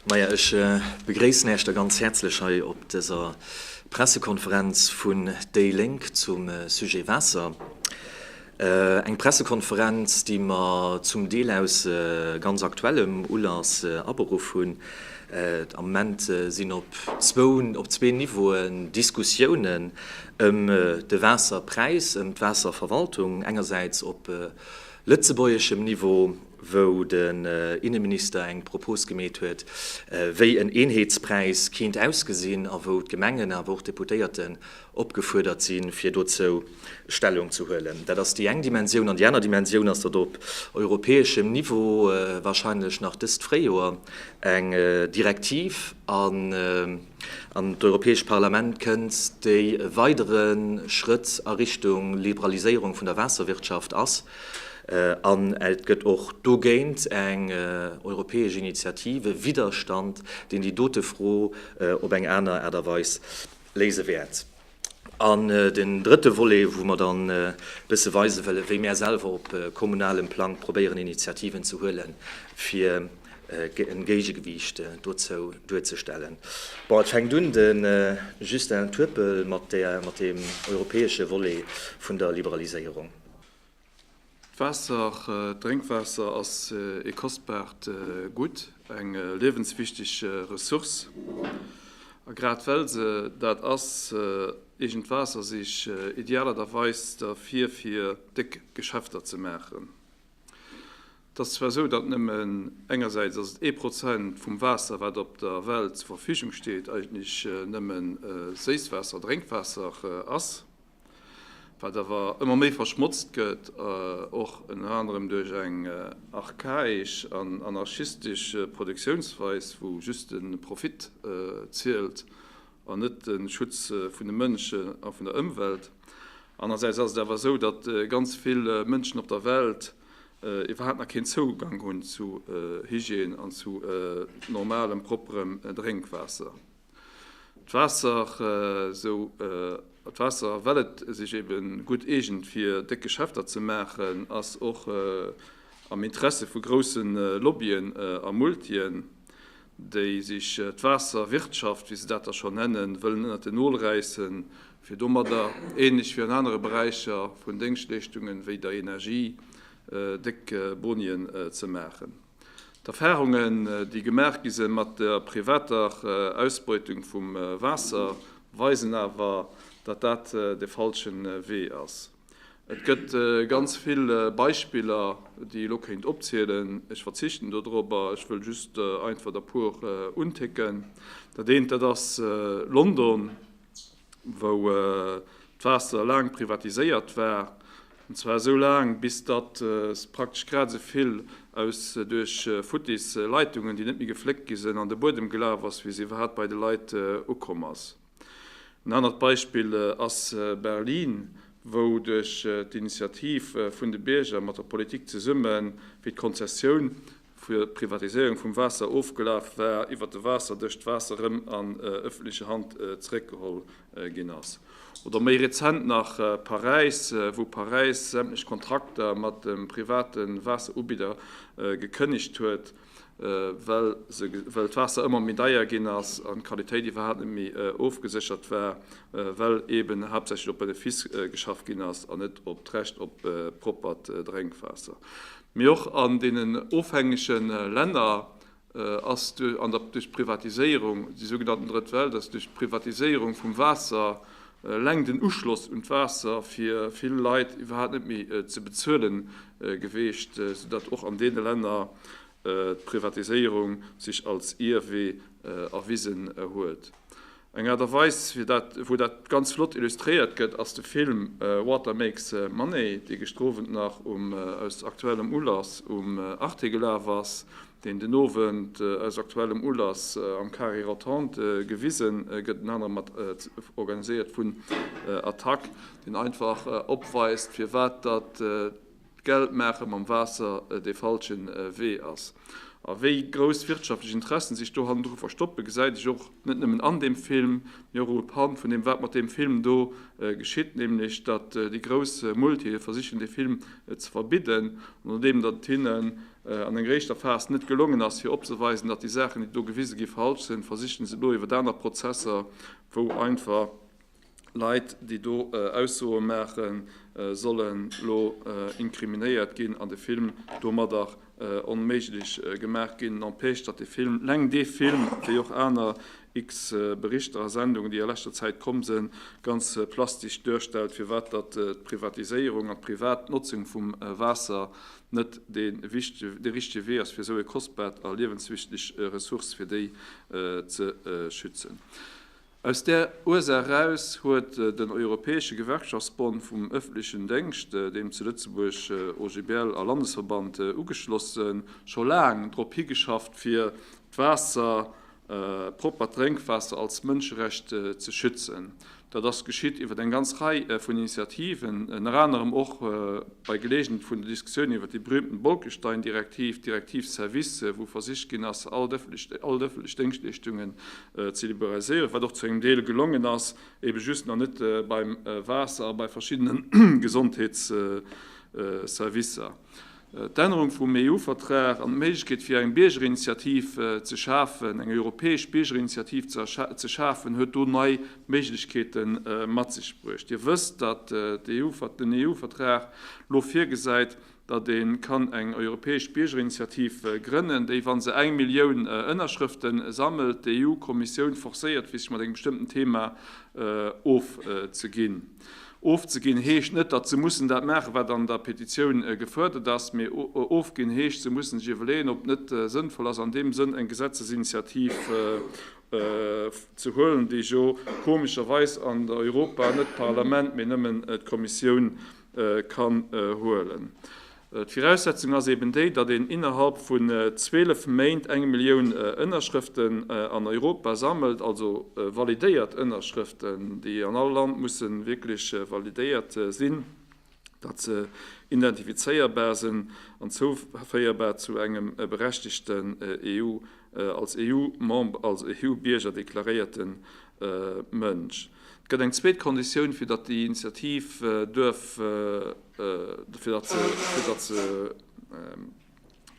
Maja, ech begréissen Äech da ganz häerzlech hei op dëser Pressekonferenz vun déi Lénk zum Sujet Waasser. Eng Pressekonferenz, déi mer zum Deel aus ganz aktuellem Ulass aberuff hunn. Am Moment sinn op zwou, op zwee Niveauen Diskussiounen ëm de Waasserpräis, ëm d'Waasserverwaltung engersäits op lëtzebuergeschem Niveau, wou den Inneminister eng Propos gemeet huet, wéi en Eenheetspräis keent ausgesinn a wou d'Gemengen awer och d'Deputéierten opgefuerdert sinn, fir dozou Stellung ze huelen. Dat ass déi eng Dimensioun. An déi aner Dimensioun ass, datt op europäeschem Niveau warscheinlech nach dëst Fréijoer eng Direktiv an d'Europäescht Parlament kënnt, déi e weidere Schrëtt a Richtung Liberaliséierung vun der Waasserwirtschaft ass. An et gëtt och dogéint eng europäesch Initiative, Widderstand, deen déi dote Fro op eng aner Aart a Weis léise wäert. An den drëtte Volet, wou mer dann e bësse weise wëllen, wéi mär selwer op kommunalem Plang probéieren, Initiativen ze huelen, fir e Géigegewiicht dozou duerzestellen. Bon, et fänkt un, de Justin Turpel, mat deem europäesche Volet vun der Liberaliséierung. D'Waasser, d'Drénkwaasser ass ee kostbart Gutt, eng liewenswichteg Ressource. A grad well se dat ass, eegent Waasser sich idealerderweis derfir fir déck Geschäfter ze maachen. Et ass zwar esou, datt nëmmen engersäits ass et ee Prozent vum Waasser, wat op der Welt zur Verfügung steet, eigentlech nëmmen Séisswaasser, Drénkwaasser ass. wat awer ëmmer méi verschmotzt gëtt, och ënner anerem duerch eng archaesch an anarchistesch Produktiounsweis, wou just de Profit zielt an net de Schutz vun de Mënschen a vun der Ëmwelt. Anerersäits ass et awer esou, datt ganz vill Mënschen op der Welt iwwerhaapt nach keen Zougang hunn zu Hygiène an zu normalem, propperem Drénkwaasser. D'Waasser, esou d'Waasser, well et sech ebe gutt eegent fir déck Geschäfter ze maachen, ass och am Interesse vu grousse Lobbyen a Multien, déi sech d'Waasserwirtschaft, wéi se dat da schonn nennen, wëllen ënnert den Nol räissen, fir domadder, ähnlech wéi an anere Beräicher vun Déngschtleeschtungen, wéi der Energie, déck Bonien ze maachen. D'Erfahrungen, déi gemaach gi se mat der privater Ausbeutung vum Waasser, weisen awer, datt dat de falsche Wee ass. Et gëtt ganz vill Beispiller, déi elo kéint opzielen. Ech verzichten dodrop a ech wëll just einfach der puer unticken. Dat eent, dat ass London. wou d'Waasser laang privatiséiert war, an zwar esou laang, bis datt se praktesch grad esou vill aus duerch futtis Leitungen, déi net méi gefléckt gi sinn, an de Buedem gelaf ass, wéi se iwwerhaapt bei de Leit ukomm ass. En anert Beispill ass Berlin, wou duerch d'Initiativ vun de Bierger mat der Politik zesummen, wéi d'Konzessioun fir d'Privatiséierung vum Waasser ofgelaf war, iwwert de Waasserdësch d'Waasser rëm an ëffentleche Hand zeréckgeholl ginn ass. Oder méi rezent nach Paräis, wou Paräis sämtlech Kontrakter mat de private Waasserubidder gekënnegt huet, well d'Waasser ëmmer méi deier ginn ass an d'Qualitéit iwwerhaapt net méi ofgeséchert war, well eeben haaptsächlech op Benefiss geschaff ginn ass an net op d'Recht op proppert Drénkwaasser. Mee och an deenen ofhängege Länner ass duerch d'Privatiséierung, déi sougenannten Drëtt Welt, ass duerch d'Privatiséierung vum Waasser eleng den Uschloss un d'Waasser fir vill Leit iwwerhaapt net méi ze bezuelen geweecht, soudatt och an deene Länner d'Privatiséierung sech als Ierwee erwisen huet. Eng Aart a Weis, wou dat ganz flott illustréiert gëtt, ass de Film Water Makes Money, dee gëschter Owend nach um, aus aktuellem Ulass, um Arte gelaf ass, deen den Owend aus aktuellem Ulass am Carré Rotonde gewise gëtt, ënner anerem mat organiséiert vun Attac, deen einfach opweist, firwat datt Geld maache mam Waasser dee falsche Wee ass. A wéi grouss wirtschaftlech Interessen sech do hannendru verstoppen, gesäit ech och net nëmmen an deem Film, mee och uepannt vun deem, wat mat deem Film do geschitt, nämlech datt déi grouss Multië versichen, dee Film ze verbidden, andeem datt et hinnen an enger éischter Phas net gelongen ass, fir opzeweisen, datt déi Saachen, déi do gewise gi falsch sinn, versichen se elo iwwert aner Prozesser, wou einfach. Leit, déi do Aussoe maachen, sollen elo inkriminéiert ginn an de Film domadder onméiglech gemaach ginn. N'empêche, datt de Film, leng dee Film, wéi och aner x-Berichter a Sendungen, déi a leschter Zäit komm sinn, ganz plastesch duerstellt, firwat datt d'Privatiséierung an d'privat Notzung vum Waasser net dee richtege Wee ass, fir esou e kostbart a liewenswichteg Ressource, fir déi ze schützen. Aus där Ursaach eraus huet den Europäesche Gewerkschaftsbond vum ëffentlechen Déngscht, deem zu Lëtzebuerg OGBL a Landesverband ugeschlossen, scho laang drop higeschafft fir d'Waasser, proppert Drénkwaasser, als Mënscherecht ze schützen. Dat ass geschitt iwwer eng ganz Rei vun Initiativen, ënner anerem och bei Geleegenheet vun der Diskussioun iwwer déi berüümten Bolkestein-Direktiv, d'Direktiv Service, wou versicht ginn ass all d'ëffentlech Déngschtleeschtungen ze liberaliséieren, wat och zu engem Deel gelongen ass, ebe just nach net beim Waasser a bei verschiddene Gesondheetsservicer. D'Ännerung vum EU-Vertrag an d'Méiglechkeet fir eng Biergerinitiativ ze schafen, eng europäesch Biergerinitiativ ze schafen, huet do nei Méiglechkeete mat sech bruecht. Dir wësst, datt den EU-Vertrag elo virgesäit, datt ee kann eng europäesch Biergerinitiativ grënnen, déi, wa se eng Millioun Ënnerschrëfte sammelt, d'EU-Kommissioun forcéiert, fir sech mat engem bestëmmten Thema ofzeginn. Ofzeginn heescht net, datt se mussen dat maachen, wat an der Petitioun gefuerdert ass, mee ofginn heescht, se mussen sech iwwerleeën, ob et net sënnvoll ass, an deem Sënn eng Gesetzesinitiativ ze huelen, déi jo komescherweis an Europa net d'Parlament, mee nëmmen d'Kommissioun kann huelen. D'Viraussetzung ass eben déi, datt een innerhalb vun 12 Méint eng Millioun Ënnerschrëften an Europa sammelt, also validéiert Ënnerschrëften, déi an all Land mussen wierklech validéiert sinn, datt se identifizéierbar sinn an zouféierbar zu engem berechtegten, als EU-Member, als EU-Bierger deklaréierten Mënsch. Et gëtt eng zweet Konditioun, fir datt déi Initiativ duerf, fir datt se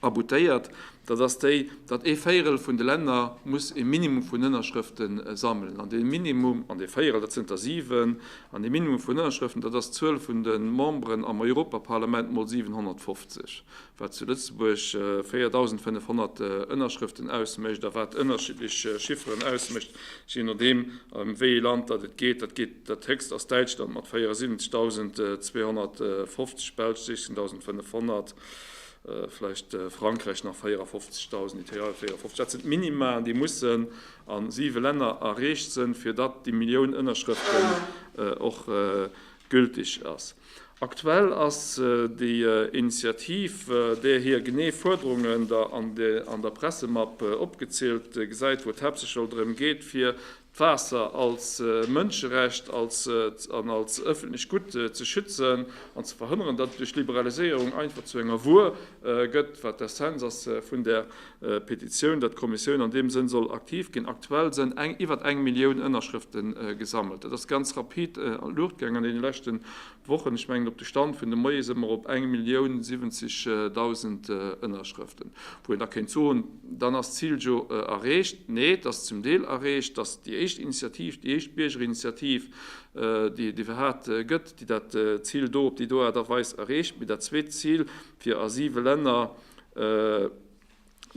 aboutéiert, dat ass déi, datt ee Véierel vun de Länner muss e Minimum vun Ënnerschrëfte sammelen. An dee Minimum, an dee Véierel, dat sinn der siwen, an dee Minimum vun Ënnerschrëften, dat ass d'Zuel vun de Memberen am Europaparlament mol 750. wat zu Lëtzebuerg 4.500 Ënnerschrëften ausmécht a wat ënnerschiddlech Chifferen ausmécht, jee nodeem ëm wéi ee Land datt et geet. Dat geet, dat héchst ass Däitschland mat 74.250, Belsch 16.500, vläicht Frankräich nach 54.000, Italien 54. Dat sinn d'Minima'en, déi mussen a siwe Länner erreecht sënn, fir datt déi Millioun Ënnerschrëften och gültig ass. Aktuell ass déi Initiativ, där hir genee Fuerderungen der an der Pressemapp opgezielt gesäit, wou et haaptsächlech elo drëm geet, fir d'Waasser als Mënscherecht an als ëffentlecht Gutt ze schützen an ze verhënneren, datt et duerch d'Liberaliséierung einfach zu enger Wuer gëtt, wat d'Essenz ass vun där Petitioun, datt d'Kommissioun an deem Sënn soll aktiv ginn. Aktuell sen eng iwwert eng Millioun Ënnerschrëften gesammelt. Dat ass ganz rapid an d'Luucht gaang an deene leschten Wochen. Ech mengen op de Stand vun de Moie se mer op eng Millioun 70.000 Ënnerschrëften, wou een da kéint soen, dann ass d'Zil jo erreecht. Nee, et ass zum Deel erreecht. Et ass déi éischt Initiativ, déi éischt Biergerinitiativ, déi iwwerhat gëtt, déi dat Zil do op déi do Aart a Weis erreecht. Mee dat zweet Zil, fir a siwe Länner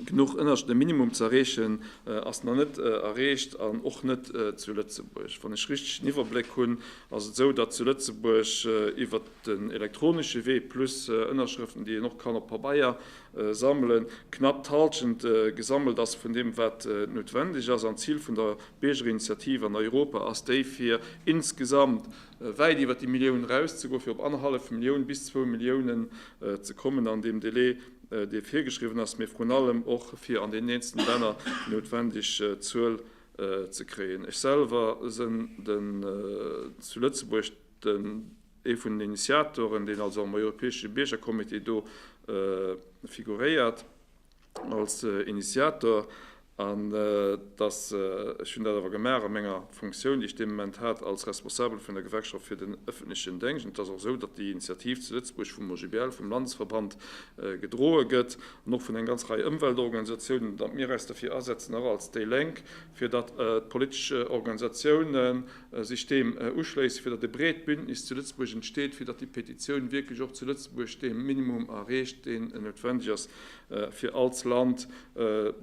genuch ënner de Minimum ze erreechen, ass nach net erreecht an och net zu Lëtzebuerg. Wann ech richteg den Iwwerbléck hunn, ass et esou, datt zu Lëtzebuerg iwwert den elektronesche Wee, plus Ënnerschrëften, déi een och kann op Pabeier sammelen, knapp d'Hallschent gesammelt ass vun deem, wat noutwendeg ass. An d'Zil vun der Biergerinitiativ an Europa ass déi, fir insgesamt wäit iwwert déi Millioun erauszegoen, fir op annerhallef Millioun bis zwou Milliounen ze kommen an deem Delai, dee virgeschriwwen ass, mee vrun allem och, fir an deenen eenzelne Länner déi noutwendeg Zuel ze kréien. Ech selwer sinn den zu Lëtzebuerg den ee vun den Initiatoren, deen also am europäesche Biergercomité do figuréiert. als Initiator, an dass ech hunn dat awer gemaach a menger Funktioun, déi ech dee Moment hat, als Responsabel vun der Gewerkschaft fir den ëffentlechen Déngscht. Et ass och esou, datt déi Initiativ zu Lëtzebuerg vum OGBL, vum Landesverband, gedroe gëtt an och vun enger ganz Rei Ëmweltorganisatiounen, an datt mir eis dofir asetzen, och als déi Lénk, fir datt d'politesch Organisatioune sech deem uschléissen, fir datt e breet Bündnis zu Lëtzebuerg entsteet, fir datt déi Petitioun wierklech och zu Lëtzebuerg dee Minimum erreecht, deen noutwendeg ass. fir all d'Land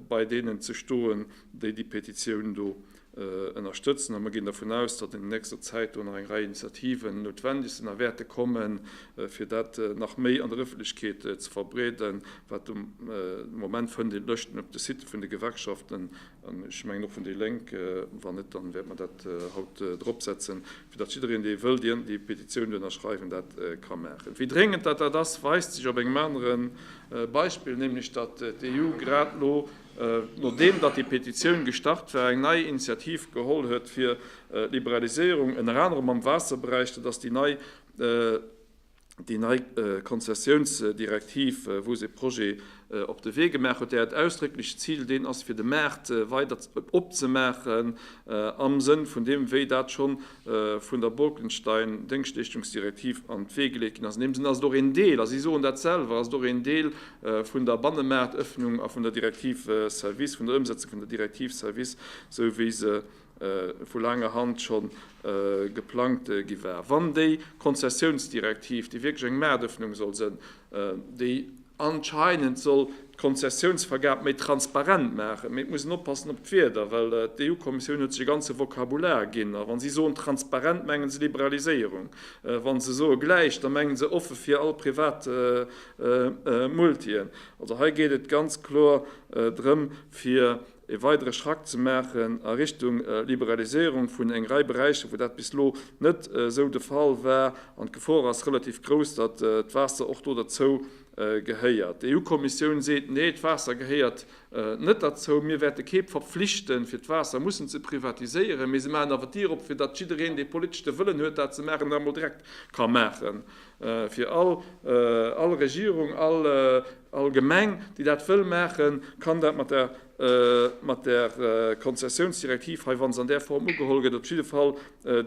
bei deenen ze stoen, déi déi Petitioun do ënnerstëtzen. A mir ginn dervun aus, datt an nächster Zäit do nach eng Rei Initiativen noutwendeg sinn a wäerte kommen, fir dat nach méi an der Ëffentlechkeet ze verbreeden, wat de Moment fënnt een d'Lëschten op de Sitë vun de Gewerkschaften Ech mengen och vun déi Lénk, wann net, dann wäerte mer dat haut drop setzen, fir datt jiddereen dee wëll déi Petitioun do ënnerschreiwen, dat ka maachen. Wéi dréngend datt dat ass, weist sech op engem anere Beispill, nämlech datt d'EU grad elo, nodeem datt déi Petitioun gestart war, eng nei Initiativ geholl huet fir Liberaliséierung, ënner anerem am Waasserberäich, dat ass déi nei, déi nei Konzessiounsdirektiv, wou se e Projet op de Wee gemaach huet, där et ausdrécklech d'Zil deen ass, fir de Maart weider opzemaachen am Sënn vun deem, wéi dat scho vun der Bolkestein-Déngschtleeschtungsdirektiv an d'Wee geleet ginn ass. An deem Sënn ass et och een Deel, a si soen dat selwer, ass et och een Deel vun der Bannemaartëffnung a vun der Direktiv Services, vun der Ëmsetzung vun der Direktiv Services, esou wéi se vu laanger Hand scho geplangt gi war. Wann déi Konzessiounsdirektiv, déi wierklech eng Maartëffnung soll sënn, déi anscheinend soll d'Konzessiounsvergab méi transparent maachen, mee et muss een oppassen op d'Wierder, well d'EU-Kommissioun huet sech e ganze Vokabular ginn, a wa si soen transparent, menge se Liberaliséierung, wa se soe gläich, da menge se offe fir all privat Multien. Also hei geet et ganz kloer drëm, fir ee weidere Schrack ze maachen a Richtung Liberaliséierung vun eng Rei Beräicher, wou dat bis elo net esou de Fall war. An d'Gefor ass relativ grouss, datt d'Waasser och do derzou gehéiert. D'EU-Kommissioun seet, Nee, d'Waasser gehéiert net derzou. Mir wäerte kee verpflichten, fir d'Waasser mussen ze privatiséieren. Mee se maachen awer d'Dier op, fir datt jiddereen, dee politeschte Wëllen huet, dat ze maachen, dat emol direkt ka maachen. Fir all, all Regierung, all, all Gemeng, déi dat wëll maachen, kann dat mat der, mat der Konzessionsdirektiv hei, wa se an där Form ugeholl gëtt, op jidde Fall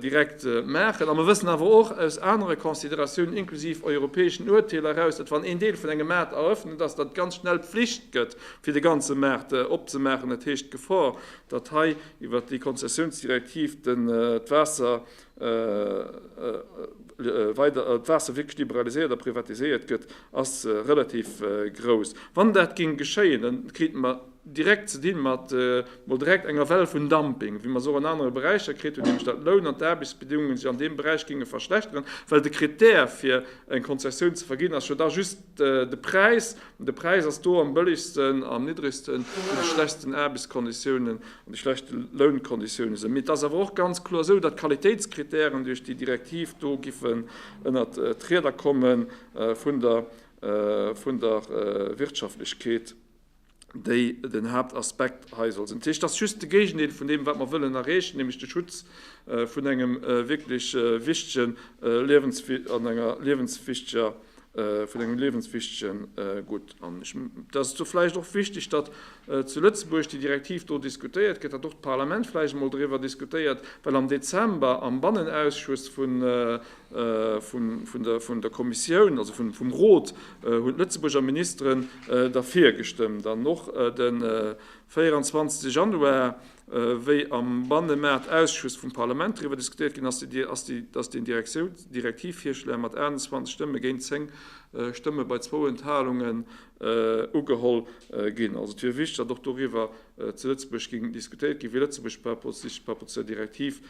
direkt maachen. A mer wëssen awer och aus anere Consideratiounen, inklusiv europäeschen Urteeler eraus, datt wann een Deel vun engem Maart erëffnet, datt dat ganz schnell Pflicht gëtt, fir de ganze Maart opzemaachen. Dat heescht, d'Gefor, datt hei iwwert déi Konzessionsdirektiv d'Waasser, wei d'Waasser wierklech liberaliséiert a privatiséiert gëtt, ass relativ grouss. Wann dat géing geschéien, da krite mer direkt ze di mat mol direkt enger Well vun Dumping, wéi mer se och an anere Beräicher kritt hunn, nämlech datt d'Loun an d'Aarbechtsbedingungen sech an deem Beräich géinge verschlechteren, well de Krittär fir eng Konzessioun ze verginn ass jo da just de Präis, an de Präis ass do am bëllegsten, am niddregsten, zu de schlechsten Aarbechtskonditiounen. An de schlechte Lounkonditioune sinn. Mee et ass awer och ganz kloer esou, datt d'Qualitéitskritären duerch déi Direktiv do giffen ënnert d'Rieder komme vun der Wirtschaftlechkeet, déi den Haaptaspekt hei soll sinn. Dat heescht, et ass just de Géigendeel vun deem, wat mer wëllen erreechen, nämlech de Schutz vun engem wierklech wichtegen Liewens an enger liewenswichteger vun engem liewenswichtegen Gutt. An ech mengen, dass do vläicht och wichteg, datt zu Lëtzebuerg déi Direktiv do diskutéiert gëtt, datt och d'Parlament vläicht emol driwwer diskutéiert, well am Dezember am Bannenausschuss vun der Kommissioun, also vum Rot, hunn d'Lëtzebuurger Ministeren derfir gestëmmt an och de 24 Januar, Wéi am Bannemaartausschuss vum Parlament driwwer diskutéiert ginn ass, ass den Direktivvirschläer mat 28 Stëmme géint 10 Stëmme bei zwou Enthalungen ugeholl ginn. Also et wier wichteg, datt och doriwwer zu Lëtzebuerg géing diskutéiert ginn, wéi Lëtzebuerg sich par rapport zu der Direktiv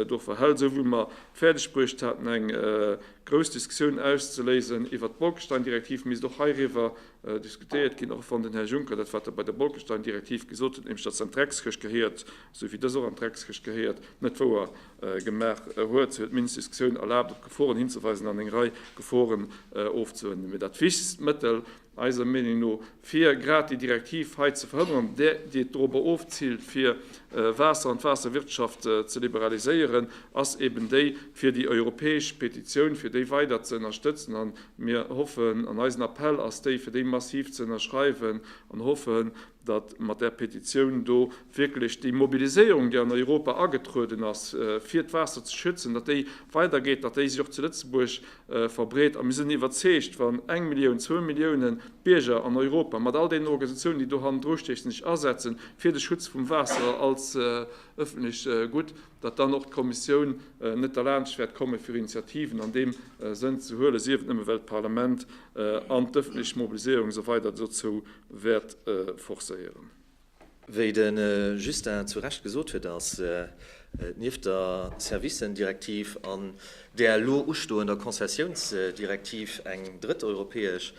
do verhält. Esou wéi mer fäerdeg bruecht haten, eng grouss Diskussioun auszeléisen iwwert d'Bolkestein-Direktiv, misst och heiriwwer Diskutéiert ginn, och wann den Här Juncker dat, wat e bei der Bolkestein-Direktiv gesot huet, nämlech datt se an d'Dreckskëscht gehéiert, esou wéi dës och an d'Dreckskëscht gehéiert, net wouer gemaach huet. Si huet d'mindest Diskussioun erlaabt, op d'Geforen hinzeweisen an eng Rei Geforen ofzehuelen. Mee dat wichtegst Mëttel eiser Meenung no, fir grad déi Direktiv hei ze verhënnern, där, déi et dorobber ofziilt, fir Waasser an d'Waasserwirtschaft ze liberaliséieren, ass eben déi, fir déi europäesch Petitioun, fir déi weider ze ënnerstëtzen an Mir hoffen, an eisen Appell ass déi, fir déi massiv ze ënnerschreiwen, an hoffen, datt mat där Petitioun do wierklech déi Mobiliséierung, déi an Europa agetrueden ass, fir d'Waasser ze schützen, datt déi weidergeet, datt déi sech och zu Lëtzebuerg verbreet. A mir sinn iwwerzeegt, wann eng Millioun, zwou Millioune Bierger an Europa, mat all deenen Organisatiounen, déi do hannendru stiechen, sech asetzen fir de Schutz vum Waasser als ëffentlecht Gutt, datt dann och d'Kommissioun net derlaanscht wäert komme fir Initiativen an deem Sënn ze huelen, sief et nëmme well d'Parlament an d'ëffentlech Mobiliséierung esou weider dozou wäert forcéieren. Wéi de Justin zu Recht gesot huet, ass nieft der Services-Direktiv an där elo ustoender Konzessiounsdirektiv eng drëtt europäesch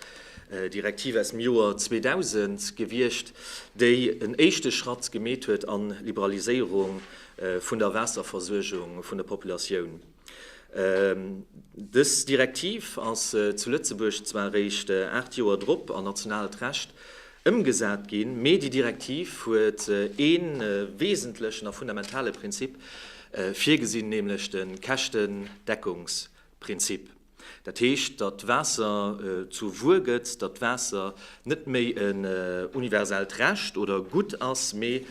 Direktiv aus dem Joer 2000 gewiescht, déi en éischte Schratt gemeet huet a Liberaliséierung vun der Waasserversuergung vun der Populatioun. Dës Direktiv ass zu Lëtzebuerg zwar eréischt aacht Joer drop an nationaalt Recht ëmgesat ginn, mee déi Direktiv huet ee wesentlechen a fundamentale Prinzip virgesinn, nämlech de Käschtendeckungsprinzip. Dat heescht, datt d'Waasser zur Wuer gëtt, datt d'Waasser net méi en universellt Recht oder Gutt ass, mee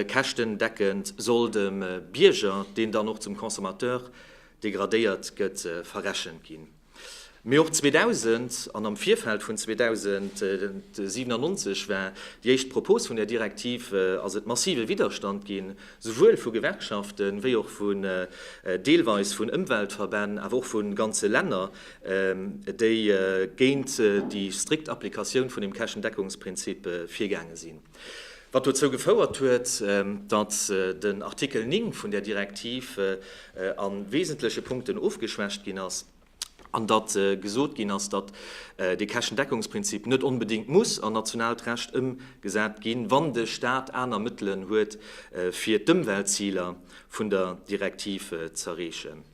käschtendeckend soll dem Bierger, deen dann och zum Consommateur degradéiert gëtt, verrechent ginn. Mee och 2000 an am Virfeld vun 2097 war déi éischt Propos vun där Direktiv, ass et massive Widderstand ginn, souwuel vu Gewerkschaften, wéi och vun deelweis vun Ëmweltverbänn, awer och vun ganze Länner, déi géint déi strikt Applikatioun vun dem Käschendeckungsprinzip virgaange sinn. Wat dozou gefouert huet, datt den Artikel 9 vun där Direktiv a wesentleche Punkten ofgeschwächt ginn ass. an datt gesot ginn ass, datt dee Käschtendeckungsprinzip net onbedéngt muss an nationaalt Recht ëmgesat ginn, wann de Stat aner Mëttelen huet, fir d'Ëmweltziler vun der Direktiv z'erreechen.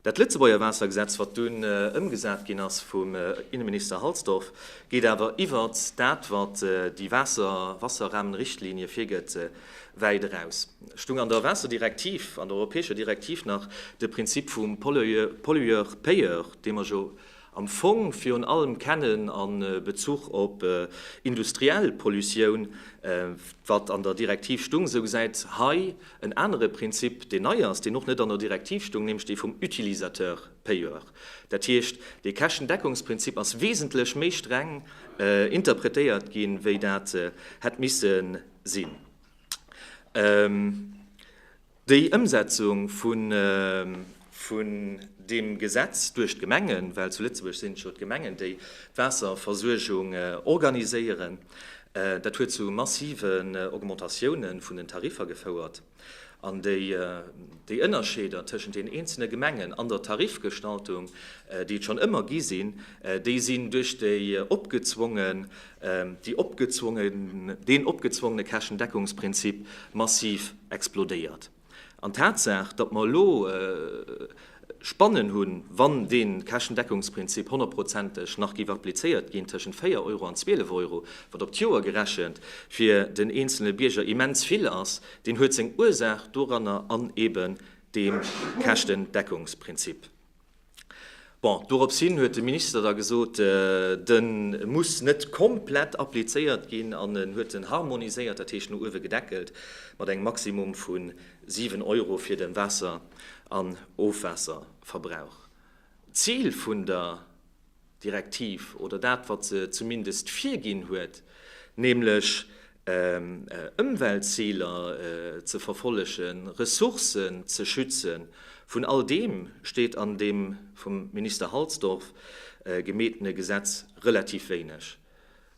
Dat Lëtzebuerger Waassergesetz, wat dunn ëmgesat ginn ass vum Innenminister Halsdorf, geet awer iwwert dat, wat déi Wasserrahmenrichtlinie virgëtt, wäit eraus. stung an der Waasserdirektiv, an der europäescher Direktiv nach de Prinzip vum Pollueur-payeur, dee mer jo am Fong virun allem kennen a Bezuch op industriell Pollutioun, wat an der Direktiv stung, esou gesäit hei en anere Prinzip, deen nei ass, deen och net an der Direktiv stung, nämlech dee vum Utilisateur-payeur. Dat heescht, dee Käschtendeckungsprinzip ass wesentlech méi streng interpretéiert gi wéi dat hätt misse sinn. Déi Ëmsetzung vun deem Gesetz duerch d'Gemengen, well zu Lëtzebuerg sinn et jo d'Gemengen, déi d'Waasserversuergung organiséieren, dat huet zu massiven Augmentatioune vun den Tariffer gefouert. An déi Ënnerscheeder tëschent den eenzele Gemengen an der Tarifgestaltung, déi et schonn ëmmer gi sinn, déi sinn duerch déi opgezwonge deen opgezwongene Käschendeckungsprinzip massiv explodéiert. An d'Tatsaach, datt mer elo Spannen hunn, wann dee Käschendeckungsprinzip honnertprozenteg nach géif applizéiert ginn, tëschent 4 Euro an 12 Euro, wat op d'Joer gerechent fir den eenzele Bierger immens vill ass, deen huet seng Ursaach doranner an eeben deem Käschtendeckungsprinzip. Bon, doropshin huet de Minister da gesot, de muss net komplett applizéiert ginn an en huet en harmoniséiert, dat heescht no uewe gedeckelt, mat engem Maximum vu 7 Euro fir de Waasser an Ofwaasserverbrauch. D'Zil vun der Direktiv oder dat, wat se zumindest virginn huet, nämlech Ëmweltziler ze verfollegen, Ressourcen ze schützen, vun all deem steet an deem vum Minister Halsdorf gemeetene Gesetz relativ wéineg.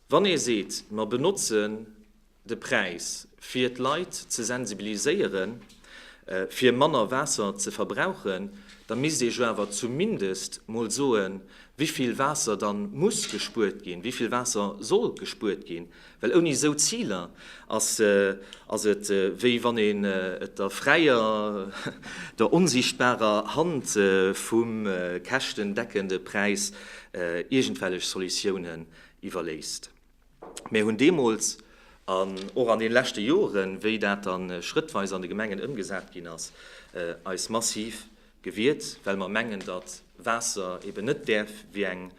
Wann ee seet, mer benotzen de Präis, fir d'Leit ze sensibiliséiere fir manner Waasser ze verbrauchen, da misst ee jo awer zumindest mol soe wéi vill Waasser da muss gespuert ginn, wéi vill Waasser soll gespuert ginn, well ouni esou Ziler ass et wéi wann een et der fräier, der onsichtbarer Hand vum käschtendeckende Präis iergendwellech Solutiounen iwwerléisst. Mir hunn deemools an och an deene leschte Joren, wéi dat dann schrëttweis an de Gemengen ëmgesat ginn ass, eis massiv gewiert, well mer mengen, datt Waasser eben net däerf wéi eng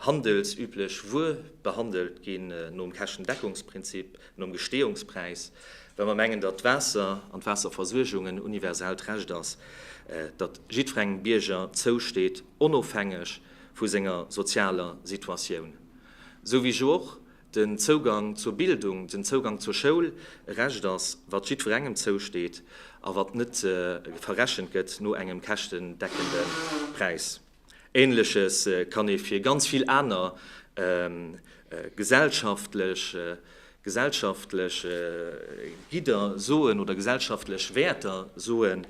handelsüblech Wuer behandelt ginn, nom Käschtendeckungsprinzip, nom Gesteeungspräis, well mer mengen, datt d'Waasser an d'Waasserversuergung en universellt Recht ass, dat jiddwerengem Bierger zousteet, onofhängeg vu senger sozialer Situatioun. Sou wéi jo och den Zougang zur Bildung, den Zougang zur Schoul e Recht ass, wat jiddwerengem zousteet a wat net verrechent gëtt no engem käschtendeckende Präis. Ähnleches kann ee fir ganz vill aner gesellschaftlech gesellschaftlech Gidder soen oder gesellschaftlech Wäerter soen,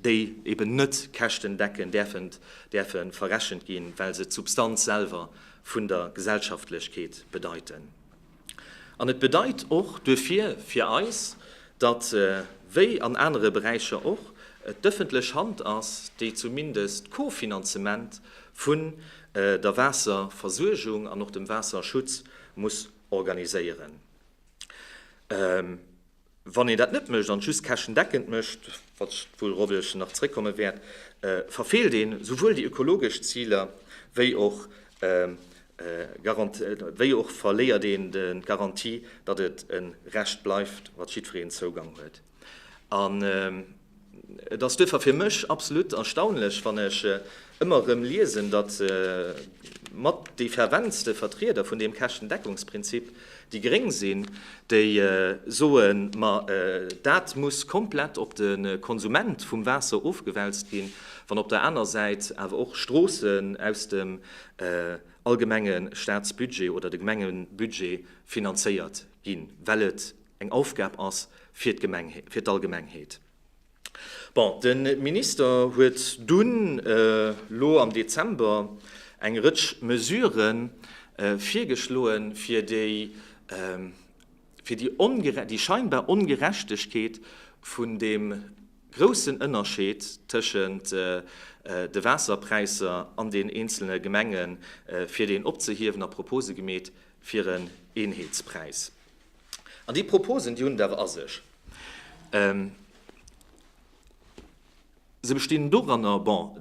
déi eben net käschtendeckend däerfen däerfe verrechent ginn, well se d'Substanz selwer vun der Gesellschaftlechkeet bedeiten. An et bedeit och duerfir fir eis, datt, wéi an anere Beräicher och, et d'ëffentlech Hand ass, déi zumindest d'Co-Finanzement vun der Waasserversuergung an och dem Waasserschutz muss organiséieren. Wann een dat net mécht an just käschendeckend mécht, wat wuel Robelchen nach zréckkomme wäert, verfeelt een souwuel déi ökologesch Ziler wéi och wéi och verléiert een d'Garantie, datt et e Recht bleift, wat jiddwereen Zougang huet. Et ass duerfir fir mech absolut erstaunlech, wann ech ëmmer erëm liesen, datt mat déi ferventste Vertrieder vun deem Käschtendeckungsprinzip déi Gréng sinn, déi soen, ma dat muss komplett op de Konsument vum Waasser ofgewälzt ginn, wann op der aner Säit awer och Stroossen aus dem allgemenge Staatsbudget oder de Gemengebudget finanzéiert ginn, well et eng Aufgab ass fir d'Allgemengheet. Bon, de Minister huet dunn elo am Dezember eng Rëtsch Mesurë virgeschloen, fir déi scheinbar Ongerechtegkeet vun deem groussen Ënnerscheed tëschent de Waasserpräisser an den eenzele Gemengen, fir deen opzehiewen a Propose gemeet fir en Eenheetspräis. An déi Proposen, déi hunn et awer a sech. Se bestinn doranner, bon,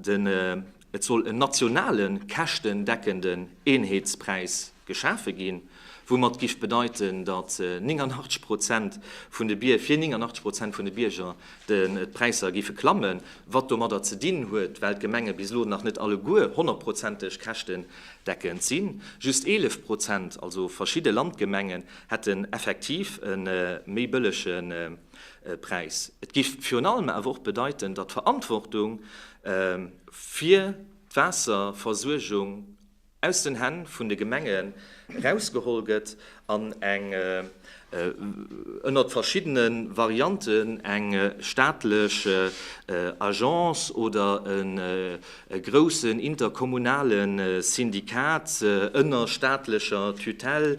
et soll en nationale käschtendeckende Eenheetspräis geschafe ginn, woumat géif bedeiten, datt 89 Prozent vun de, fir 89 Prozent vun de Bierger d'Präisser géife klammen, wat domadder ze dinn huet, well d'Gemenge bis elo nach net alleguer honnertprozenteg Käschtendeckung Decken sinn. Just 11 Prozent, also verschidde Landgemengen, hätten effektiv e méi bëllege Präis. Et géif virun allem awer och bedeiten, datt d'Verantwortung fir d'Waasserversuergung aus den Hänn vun de Gemenge rausgeholl gëtt an eng ënnert verschiddene Varianten eng staatlech Agence oder e groussen interkommunale Syndikat ënner staatlecher Tutelle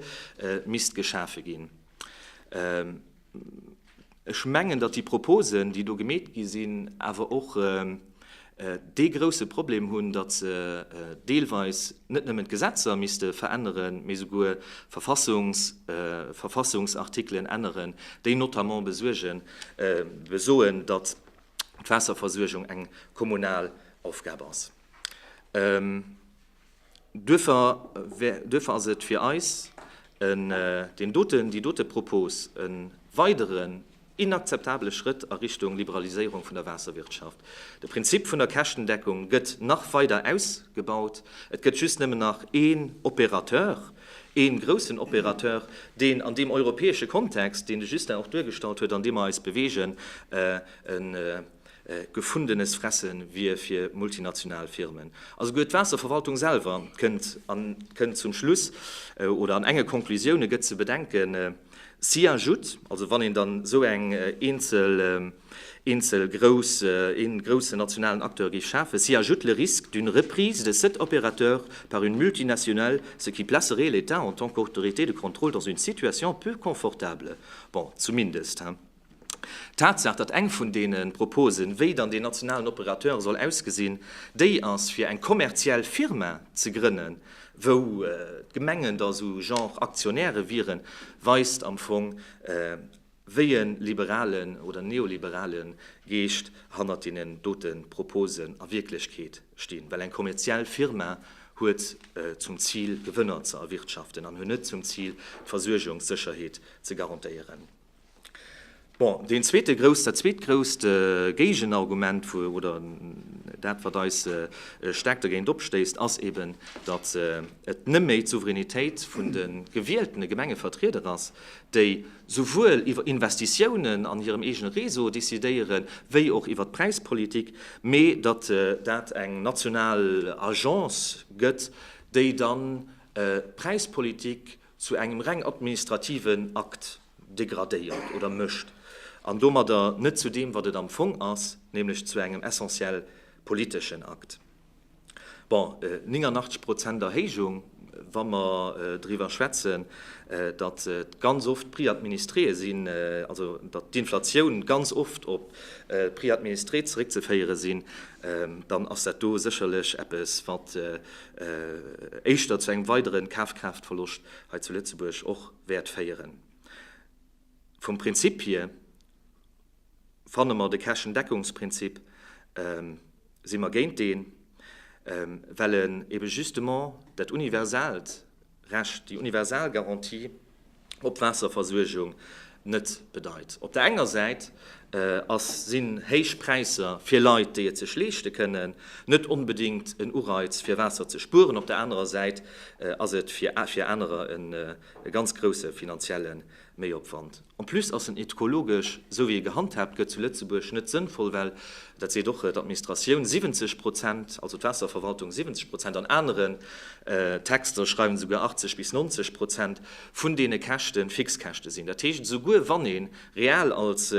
misst geschafe ginn. Ech mengen, datt déi Proposen, déi do gemeet gi sinn, awer och dee grouse Problem hunn, datt se deelweis net nëmmen d'Gesetzer misste veränneren, mee souguer Verfassungs Verfassungsartikelen änneren, déi notamment besuergen besoen, datt d'Waasserversuergung eng kommunal Aufgab ass. Duerfir ass et fir eis, deen doten, déi dote Propos e weideren inakzeptabele Schrëtt a Richtung Liberaliséierung vun der Waasserwirtschaft. De Prinzip vun der Käschtendeckung gëtt nach weider ausgebaut. Et gëtt just nëmmen nach ee Opérateur, ee groussen Opérateur, deen an deem europäesche Kontext, deen de Justin och duergestallt huet, an deem mer eis bewegen, Gefundenes Fresse wier fir multinational Firmen. A souguer d'Waasserverwaltung selwer kënnt an kënnt zum Schluss, oder an enge Konklusioune gëtt ze bedenken, si ajoute, also wann een dann esou eng eenzel, eenzel grouss, een groussen nationalen Acteur géif schafen, si ajoute le risque d'une reprise de cet opérateur par une multinationale, ce qui placerait l'État en tant qu'autorité de contrôle dans une situation peu confortable. Bon, zumindest, hein. D'Tatsaach, datt eng vun deene Proposen, wéi dann deen nationalen Operateur soll ausgesinn, déi ass, fir eng kommerziell Firma ze grënnen, wou d'Gemengen da sou Genre Aktionäre wieren, weist am Fong, wéi e liberalen oder neoliberale Geescht hannert deenen dote Proposen a Wierklechkeet stinn. Well eng kommerziell Firma huet zum Zil, Gewënner ze erwirtschaften an huet net zum Zil, d'Versuergungssécherheet ze garantéieren. Bon, deen zweete grouss, dat zweet grousst Géigenargument, oder dat, wat eis staark dergéint opstéisst, ass eben, datt et nëmme d'Souveränitéit vun de gewieltene Gemengevertrieder ass, déi souwuel iwwer Investitiounen an hirem eegene Réseau decidéieren, wéi och iwwer d'Präispolitik, mee datt dat eng national Agence gëtt, déi dann d'Präispolitik zu engem reng administrativen Akt degradéiert oder mécht an domadder net zu deem, wat et am Fong ass, nämlech zu engem essentiell politeschen Akt. Bon, 89 Prozent Erhéijung, wa mer driwwer schwätzen, datt et ganz oft d'Prix administréë sinn, also datt d'Inflatioun ganz oft op d'Prix administrés zeréckzeféiere sinn, dann ass dat do sécherlech eppes, wat éischter zu engem weideren Kafkraaftverloscht hei zu Lëtzebuerg och wäert féieren. Vum Prinzip hier fanne mer, de Käschendeckungsprinzip, si mer géint deen, well en eben justement dat universaalt, Recht, déi universal Garantie op Waasserversuergung net bedeit. Op der enger Säit ass, sinn héich Präisser fir Leit, déi et sech leeschte kënnen, net onbedéngt en Ureiz fir Waasser ze spueren, op der anerer Säit ass et fir anerer e ganz grousse finanzielle Méiopwand. En plus ass en ethkologesch, sou wéi e gehandhaabt gëtt zu Lëtzebuerg, net sënnvoll, well, dat seet och d'Administratioun 70 Prozent, also d'Waasserverwaltung 70 Prozent, an aneren Texter schreiwen se souguer 80 bis 90 Prozent vun deene Käschten Fixkäschte sinn. Dat heescht, esouguer wann ee real als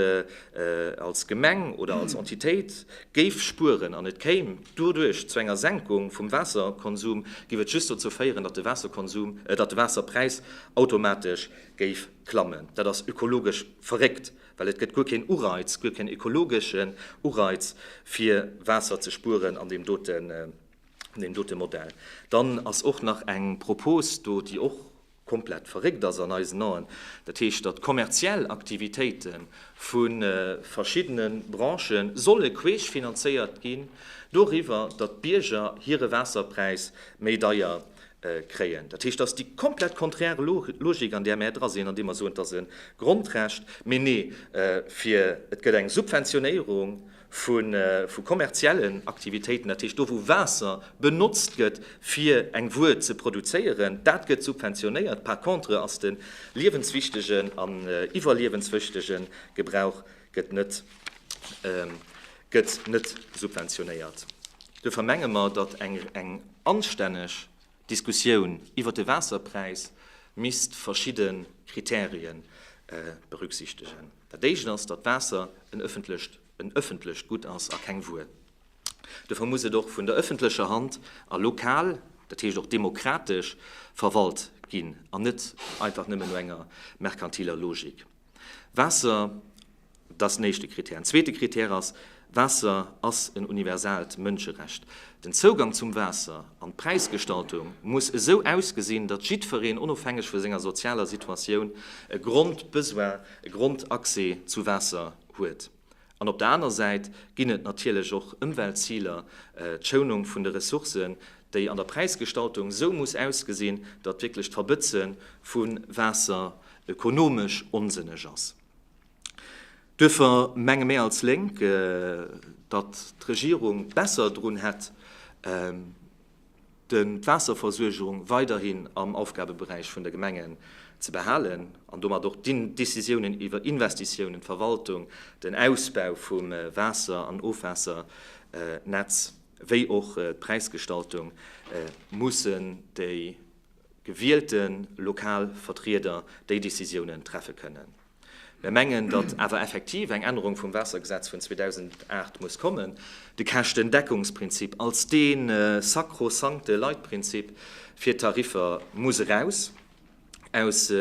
als Gemeng oder als Entitéit géif spueren an et kéim doduerch zu enger Senkung vum Waasserkonsum, géif et just dozou féieren, datt de Waasserkonsum, datt de Waasserpräis automatesch géif klammen. Dat ass ökologesch verréckt, well et gëtt guer keen Ureiz, guer keen ökologeschen Ureiz, fir Waasser ze spueren an deem dote Modell. Dann ass och nach eng Propos do, déi och komplett verréckt ass an eisen Aen, dat heescht, datt kommerziell Aktivitéite vu verschiddene Branche solle queesch finanzéiert ginn doriwwer, datt d'Bierger hire Waasserpräis méi deier kréien. Dat heescht, dass déi komplett konträr Logik, an där mär dra sinn, an déi mer soen, et ass e Grondrecht, mee nee, fir et gëtt eng Subventionéierung vu kommerziellen Aktivitéiten, dat heescht do, wou Waasser benotzt gëtt, fir eng Wuer ze produzéieren, dat gëtt subventionéiert. Par contre ass de liewenswichtige an iwwerliewenswichtige Gebrauch net. gëtt net gëtt net subventionéiert. Duerfir menge mer, datt eng anstänneg Diskussioun iwwert de Waasserpräis misst verschidde Krittärie berücksichtegen. Dat éischt ass, datt d'Waasser en ëffentlecht en ëffentlecht Gutt ass a keng Wuer. Duerfir muss et och vun der ëffentlecher Hand a lokal, dat heescht och demokratesch verwalt ginn an net einfach nëmmen no enger merkantiler Logik. Waasser, dat ass den éischte Krittär. En zweete Krittär ass, Waasser ass en universaalt Mënscherecht. Den Zougang zum Waasser an d'Präisgestaltung muss esou ausgesinn, datt jiddwereen, onofhängeg vu senger sozialer Situatioun, e Grondbesoin, e Grondaccès zu Waasser huet. An op der aner Säit ginn et natierlech och Ëmweltziler, d'Schounung vun de Ressourcen, déi an der Präisgestaltung esou muss ausgesinn, datt wierklech d'Verbëtze vu Waasser ökonomesch onsënneg ass. Duerfir menge mir als Lénk, datt d'Regierung besser drun hätt, den d'Waasserversuergerung weiderhin am Aufgabeberäich vun de Gemengen ze behalen an domat och d'Decisiounen iwwer Investitiounen, d'Verwaltung, den Ausbau vum Waasser an Ofwaassernetz wéi och d'Präisgestaltung mussen déi gewielte lokal Vertrieder déi Decisiounen treffe kënnen. Mir mengen, datt awer effektiv eng Ännerung vum Waassergesetz vun 2008 muss kommen. De Käschtendeckungsprinzip als dee sakrosankte Leitprinzip fir d'Tariffer muss eraus aus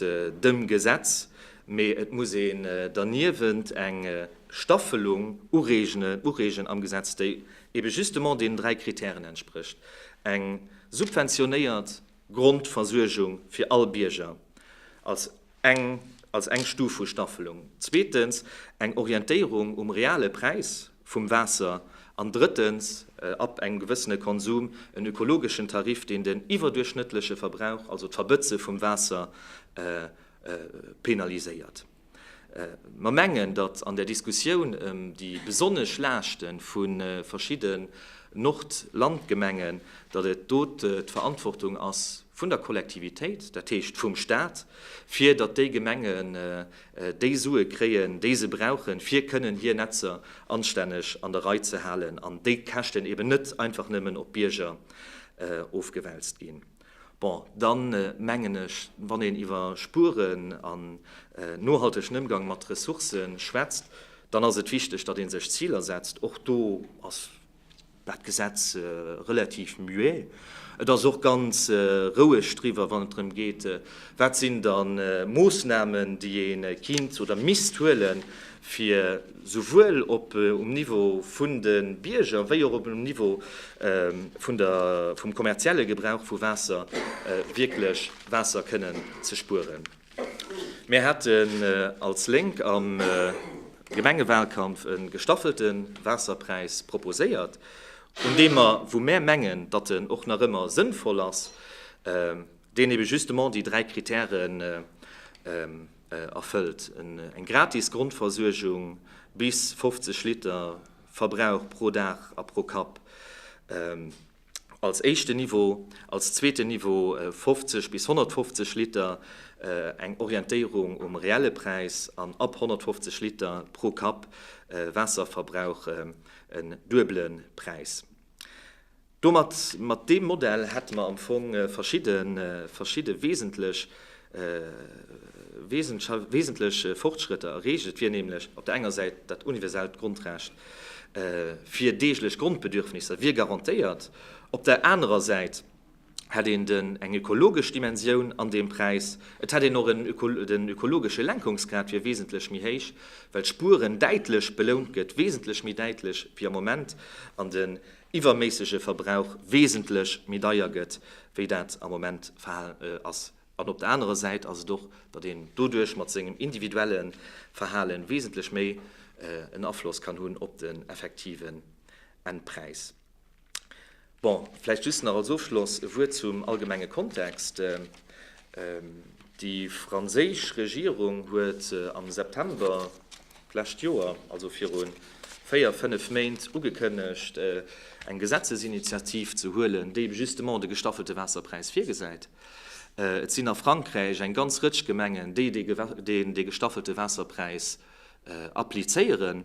dem Gesetz, mee et muss een derniewent eng Staffelung ureegen am Gesetz, déi ebe justement deenen dräi Kritären entsprécht, eng subventionéiert, Grondversuergung fir all Bierger als eng als eng Stuf vu Staffelung, zweetens eng Orientéierung um reale Präis vum Waasser an drëttens ab engem gewëssene Konsum en ökologeschen Tarif, deen den iwwerduerchschnëttleche Verbrauch, also d'Verbëtze vum Waasser penaliséiert. Mer mengen, datt an der Diskussioun ëm déi besonnesch Laaschte vu verschidde Nord-Land-Gemengen, datt et do d'Verantwortung ass vun der Kollektivitéit, dat heescht vum Stat, fir datt déi Gemengen déi Sue kréien, déi se brauchen, fir kënnen hir Netzer anstänneg an der Rei ze halen an déi Käschten eeben net einfach nëmmen op d'Bierger ofgewälzt ginn. Bon, dann mengen ech, wann een iwwer Spueren an nohaltegen Ëmgang mat Ressourcë schwätzt, dann ass et wichteg, datt ee sech Ziler setzt. Och do ass dat Gesetz relativ muet. Et ass och ganz roueg driwwer, wann et drëm geet, wat sinn da Moossnamen, déi ee kéint oder misst huelen, fir, souwuel op um Niveau vun de Bierger wéi och op um Niveau vun der, vum kommerzielle Gebrauch vu Waasser wierklech Waasser kënnen ze spueren. Mir haten als Lénk am Gemengewahlkampf e gestaffelte Waasserpräis proposéiert, un deem mer, wou mär mengen, datt en och nach ëmmer sënnvoll ass, deen ebe justement déi dräi Kritäre erfëllt eng gratis Grondversuergung bis 50 Liter Verbrauch pro Dag a pro Kapp als éischten Niveau, als zweeten Niveau 50 bis 150 Liter, eng Orientéierung um reelle Präis, an ab 150 Liter pro Kapp Waasserverbrauch en duebele Präis. Domat, mat deem Modell, hätte mer am Fong verschidde, verschidde wesentlech, wesentl, wesentlech Fortschrëtter erreecht. Et wier nämlech op der enger Säit dat universellt Grondrecht fir deeglech Grondbedürfnisser wier garantéiert, op der anerer Säit hätt een den, eng ökologesch Dimensioun an deem Präis, et hätt een och en, den ökologesche Lenkungsgrad wier wesentlech méi héich, well d'Spueren däitlech belount gëtt, wesentlech méi däitlech wéi am Moment an den. iwwerméissege Verbrauch wesentlech méi deier gëtt, wéi dat am Moment Verhalen ass, an op der anerer Säit ass et och, datt een doduerch mat sengem individuelle Verhalen wesentlech méi en Afloss kann hunn op den effektiven Endpräis. Bon, vläicht just nach als Ofschloss e Wuert zum allgemenge Kontext. Déi franséisch Regierung huet am September d'lescht Joer, also viru véier, fënnef Méint, ugekënnegt, eng Gesetzesinitiativ ze huelen, déi justement de gestaffelte Waasserpräis virgesäit. Et sinn a Frankräich eng ganz Rëtsch Gemengen, déi dee gestaffelte Waasserpräis applizéieren.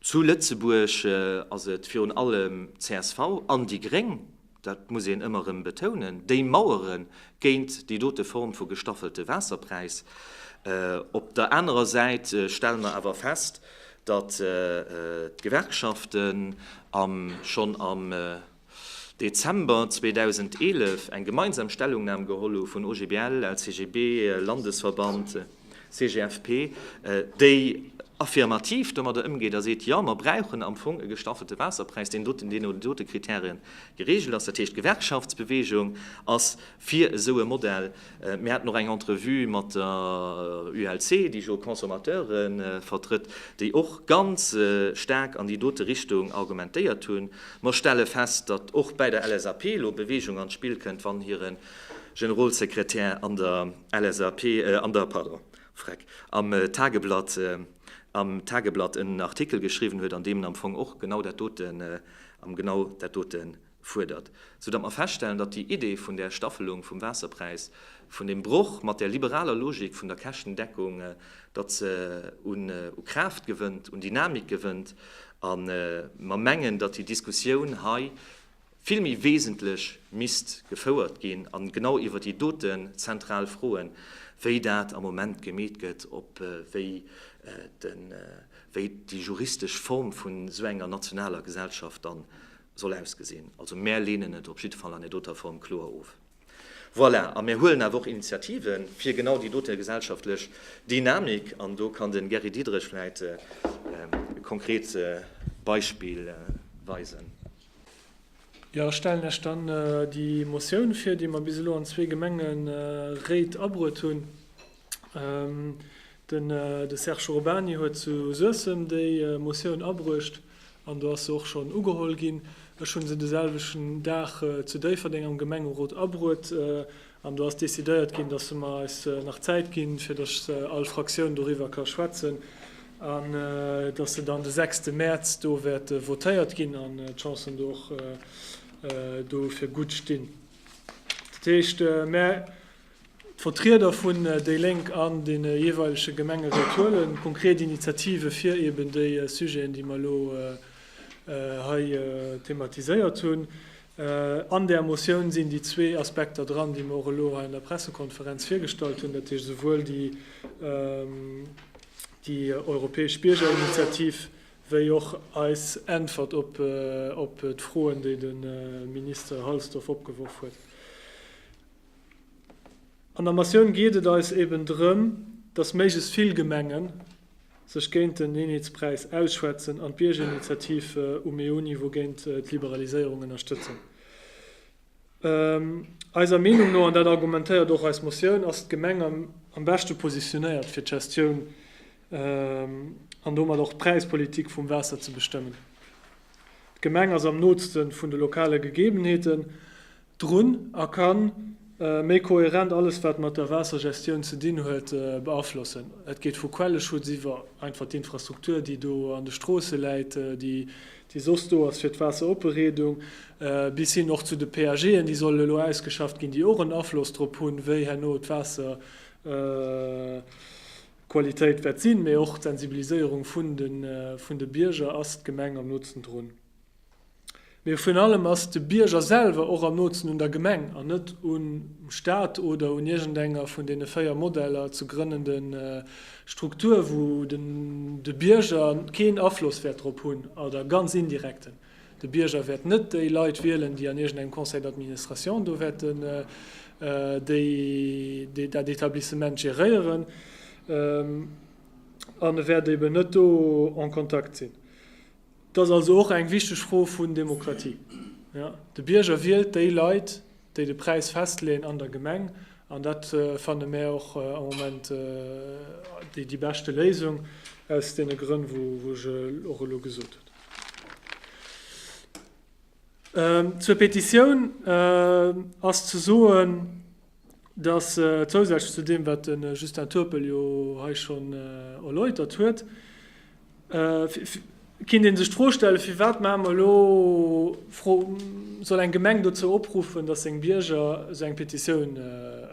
Zu Lëtzebuerg ass et virun allem csv an déi Gréng, dat muss een ëmmer erëm betounen, déi mauere géint déi dote Form vu gestaffelte Waasserpräis. Op der anerer Säit stelle mer awer fest, datt d'Gewerkschaften schonn am Dezember 2011 eng gemeinsam Stellungnam geholl hu vun OGBL, LCGB, Landesverband, CGFP, déi affirmativ domadder ëmgeet a seet, jo, mer brauchen am Fong e gestaffelte Waasserpräis, deen doten, deen no den dote Kriterien geregelt ass. Dat heescht, d'Gewerkschaftsbewegung ass fir esou e Modell. Mir haten och eng Entrevue mat der ULC, déi jo Consommateure vertrëtt, déi och ganz staark an déi dote Richtung argumentéiert hunn. Mer stelle fest, datt och bäi der LSAP elo Beweegung an d'Spill kënnt, wann hire Generolsekretär an der LSAP, an der, pardon, Freck, am Tageblatt, am Tageblatt en Artikel geschriwwen huet, an deem en am Fong och genau dat doten, am genau dat dote fuerdert, sou datt mer feststellen, datt déi Idee vun där Staffelung vum Waasserpräis, vun deem Broch mat där liberaler Logik vun der Käschtendeckung, datt se un Kraaft gewënnt, un Dynamik gewënnt. A mer mengen, datt déi Diskussioun hei vill méi wesentlech misst gefouert ginn a genau iwwer déi doten zentral Froen, wéi dat am Moment gemeet gëtt, op wéi déi juristesch Form vun esou enger nationaler Gesellschaft dann soll ausgesinn. Also mär leenen et op jiddefall an där doter Form kloer of. Voilà, a mär huelen awer och Initiative fir genau déi dote gesellschaftlech Dynamik, an do kann de Gary Diederich vläicht e konkret Beispill weisen. Jo, ech stellen Iech dann déi Motioun vir, déi mer bis elo an zwee Gemengeréit abruet hunn. De Serge Urbany huet zu Suessem déi Motioun abruecht an do ass se och schonn ugeholl ginn. Ech hu se de selwechten Dag zu Déifferdeng am Gemengerot abruet an do ass decidéiert ginn, dass se mer eis nach Zäit ginn, fir dass all Fraktioun doriwwer ka schwätzen an dass se dann de sechste Mäerz do wäert votéiert ginn an d'Chancen do och dofir gutt stinn. Dat heescht, D'Vertrieder vun déi Lénk an de jeeweilege Gemengeréit huele konkret Initiative fir eben déi Sujeten, déi mer elo hei thematiséiert hunn. An där Motioun sinn déi zwee Aspekter dran, déi mer och elo hei an der Pressekonferenz virgestallt hunn, dat heescht esouwuel déi europäesch Biergerinitiativ wéi och eis Äntwert op d'Froen, déi de Minister Halsdorf opgeworf huet. An der Motioun geet et eis eben drëm, dass méiglechst vill Gemenge sech géint den Eenheetspräis ausschwätzen an d'Biergerinitiativ um EU-Niveau géint d'Liberaliséierung ënnerstëtzen. Eiser Meenung no, an dat argumentéiert och eis Motioun, ass d'Gemeng am beschte positionéiert fir d'Gestioun an domat och d'Präispolitik vum Waasser ze bestëmmen. D'Gemeng ass am nootste vun de lokale Gegebenheeten. drun a ka méi kohärent alles wat mat der Waassergestioun ze dinn huet beaflossen. Et geet vu Quelleschutz iwwer einfach d'Infrastruktur déi do an de Stroosse läit, déi soss do ass fir d'Waasseropereedung, bis hin och zu de PAGen déi sollen elo ausgeschafft ginn, déi och en Afloss drop hunn, wéi herno d'Waasserqualitéit wäert sinn, mee och d'Sensibiliséierung vun de Bierger. Ass d'Gemeng am Nutzen drun? Mee virun allem ass de Bierger selwer och am nootsen un der Gemeng an net um Staat oder un iergendenger vun deene véier Modeller ze grënnende Struktur, wou de Bierger keen Afloss wäert drop hunn oder ganz indirekten. De Bierger wäert net déi Leit wielen, déi an iergendengem Conseil d'administration do wäerten dat Etablissement geréieren an e wäert eeben net do en Kontakt sinn. Dat ass also och eng wichteg Fro vun Demokratie. De Bierger wielt déi Leit, déi de Präis festleeën an der Gemeng, an dat fanne mär och am Moment déi beschte Léisung, aus deene Grënn, wou ech och elo gesot hunn. Zur Petitioun ass ze soen, dass zousätzlech zu deem, wat de Justin Turpel jo hei schonn erläutert huet, kinnt ee sech d'Fro stellen, firwat maache mer elo, soll eng Gemeng dozou opruffen, dass seng Bierger esou eng Petitioun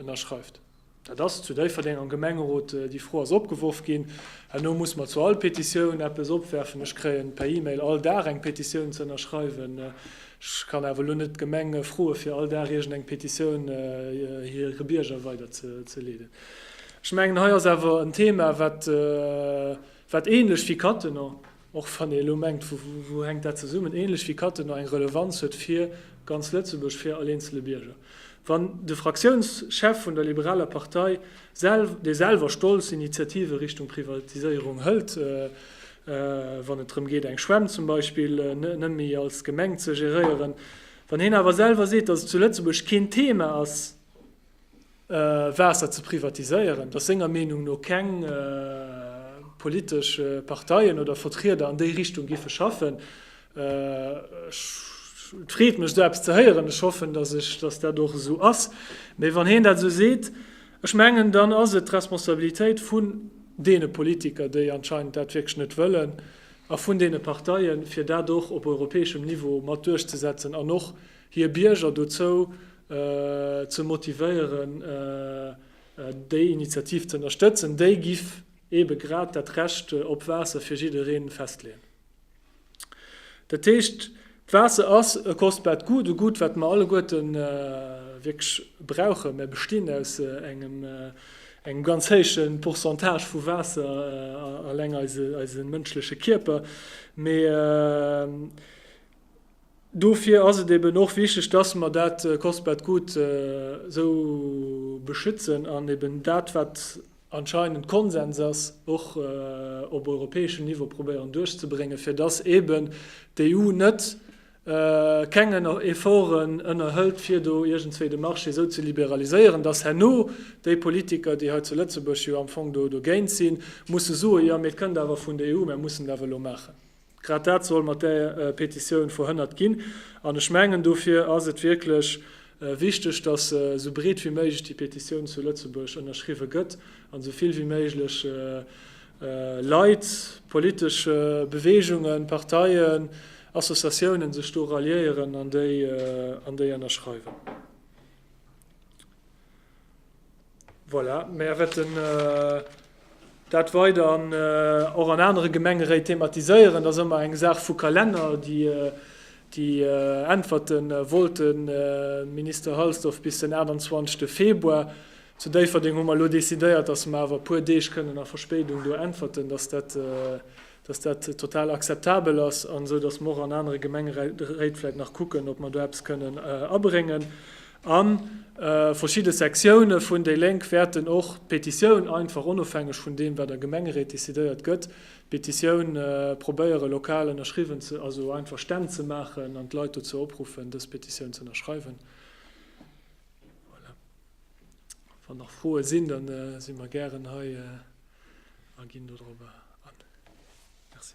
ënnerschreift. Dat ass zu Déifferdeng am Gemengerot, déi Fro ass opgeworf ginn. Herno muss mer zu all Petitioun eppes opwerfen. Ech kréien per E-Mail all Dag eng Petitioun ze ënnerschreiwen. Ech kann awer elo net d'Gemeng froe fir all Dag iergend eng Petitioun hire Bierger weider ze leeden. Ech mengen hei ass awer en Thema wat wat ähnlech wéi Cattenom, och wann ee elo mengt wou hänkt dat zesummen, ähnlech wéi Cattenom eng Relevanz huet fir ganz Lëtzebuerg, fir all eenzele Bierger. Wann de Fraktiounschef vun der liberaler Partei, dee selwer stolz Initiative Richtung Privatiséierung hëlt, wann et drëm geet eng Schwämm zum Beispill net méi als Gemeng ze geréieren, wann hien awer selwer seet, datt et zu Lëtzebuerg keen Thema ass Waasser ze privatiséieren, datt senger Meenung no keng politesch Parteien oder Vertrieder an déi Richtung géife schaffen. Et freet mech esou eppes ze héieren, ech hoffen, datt dat och esou ass, mee wann hien dat esou seet, Ech mengen, dann ass et d'Responsabilitéit vun deene Politiker, déi anscheinend dat wierklech net wëllen, a vun deene Parteien, fir dat och op europäeschem Niveau mat duerchzesetzen an och hir Bierger dozou ze motivéieren, déi Initiativ ze ënnerstëtzen. Déi giff eebe grad dat Recht op Waasser fir jiddereen festleeën. Dat heescht, d'Waasser ass e kostbaart Gut, e Gut, wat mer alleguerte wierklech brauchen. Mer bestinn aus engem ganz héije Pourcentage vu Waasser, eleng eise mënschleche Kierper. Mee dofir ass et eben och wichteg, dass mer dat kostbaart Gut esou beschützen an eben dat, wat anscheinend Konsens ass, och op europäeschem Niveau probéieren duerchzebréngen, fir dass eeben d'EU net keng Efforten ënnerhëlt, fir do iergendzwéi de Marché esou ze liberaliséieren, dass herno déi Politiker, déi hei zu Lëtzebuerg jo am Fong do dogéint sinn, musse soen, Jo, mee et kënnt awer vun der EU, mär mussen et awer elo maachen. Grad dat soll mat där Petitioun verhënnert ginn. An ech mengen, dofir ass et wierklech wichteg, dass esou breet wéi méiglech déi Petitioun zu Lëtzebuerg ënnerschriwwe gëtt an esou vill wéi méiglech Leit, politesch Beweegungen, Parteien, Associatiounen sech do ralliéieren an déi ënnerschreiwen. Voilà, mär wäerten dat weider an och an anere Gemengeréit thematiséieren. Dat ass ëmmer eng Saach vu Kalenner. Déi Äntwerte wollt de Minister Halsdorf bis den 28 Februar. Zu Déifferdeng hu mer elo decidéiert, datt mer awer e puer Deeg kënnen a Verspéidung do äntwerten, datt dat dass dat total akzeptabel ass, an esou dass mer och an anere Gemengeréit vläicht nach kucken, ob mer do eppes kënnen abréngen. A verschidde Sektione vun déi Lénk wäerten och d'Petitioun einfach, onofhängeg vun deem wat a Gemengeréit decidéiert gëtt, d'Petitioun probéiere lokal ënnerschriwwen ze, also einfach Stänn ze maachen an d'Leit dozou opruffen, dës Petitioun ze ënnerschreiwen. Voilà. Wann nach Froe sinn, dann si mer gären hei a ginn dodrop an. Merci.